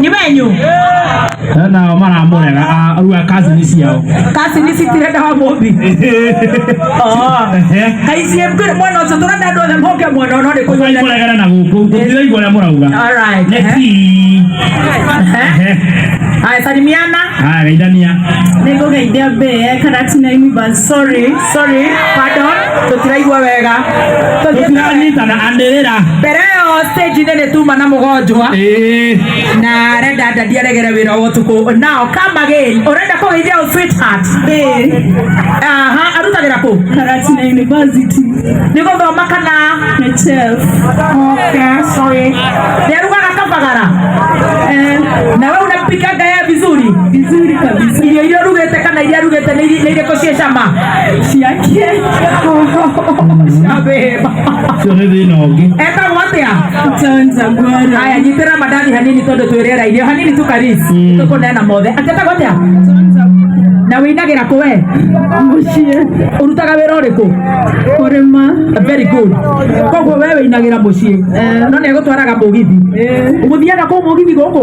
nĩ wenyu Na nao maramũrega a- rĩu a kazini ciao kasi nĩ citirenda wa mũmbi kaiciĩ mbĩrĩ mwena ũcio tũrenda andũ othe moke mwena ũno nĩ kũnyua mũregere na gũkũ gũtiraigua ũrĩa mũrauga Alright, Nĩ eh. tii. Eh. Haya, salimiana Haya, geithania nä ngå geithia mbä karati na universe sorry sorry pardon tutiraigua wega Tũtiranyitana andĩrĩra. mbere yo stage inĩ nĩ tuma na mũgonjwa Ĩĩ. na renda ndandi aregere wĩra wa ũtukũ nao come again ũrenda kũgeithia ũ sweetheart aha arutagĩra kũ Karatina University, nĩ gũthoma kana HF. Okay, sorry. Nĩarugaga kabagara Eh, na we unapikaga yeye vizuri vizuri kabisa. irio iria urugĩte kana iria arugĩte nĩ irĩ- nĩ irĩkũ C'est ça, ma. Si à qui est Eka wote ya Tanza bwana. Haya jitera madani hanini todo tuerera ile hanini tu karisi. Tuko na mothe. Atata wote ya Tanza na wĩinagĩra kũ we mũciĩ ũrutaga wĩra ũrĩkũ kũrĩma very good koguo we wĩinagĩra mũciĩ eh. no nĩ egũtwaraga mũgithi eh. ũgũthiaga kũu mũgithi gũkũ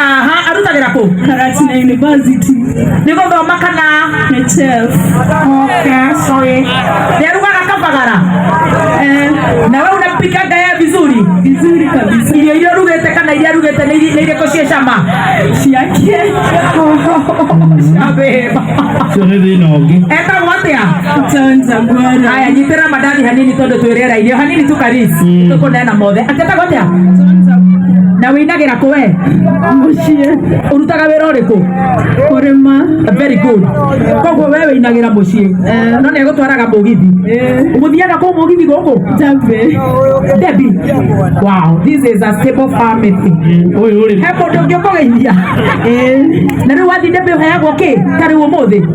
aha arutagĩra kũ Karatina University. nĩ gũthoma kana HF. Okay, sorry. nĩarugaga kabagara Eh, na we unapika ngaya vizuri vizuri kabisa. irio iria urugĩte kana iria arugĩte nĩ iri- nĩ irĩkũ ciĩ cama Ciake. Abeba. Sio hivi inaongea. etagwo atĩa haya nyitĩra mandathi hanini tondũ twĩ rĩera-inĩ o hanini tu karis tũkũneana mothe atetagwo atĩa na wĩinagĩra kũ we mũciĩ ũrutaga wĩra ũrĩkũ kũrĩma very good koguo we wĩinagĩra mũciĩ no nĩ egũtwaraga mũgithi ũgũthiaga kũu mũgithi gũkũ njambĩ debi wow this is a stable family he mũndũ ũngĩ ũkũgeithia na rĩu wathiĩ debi ũheagwo kĩ ta rĩu ũmũthĩ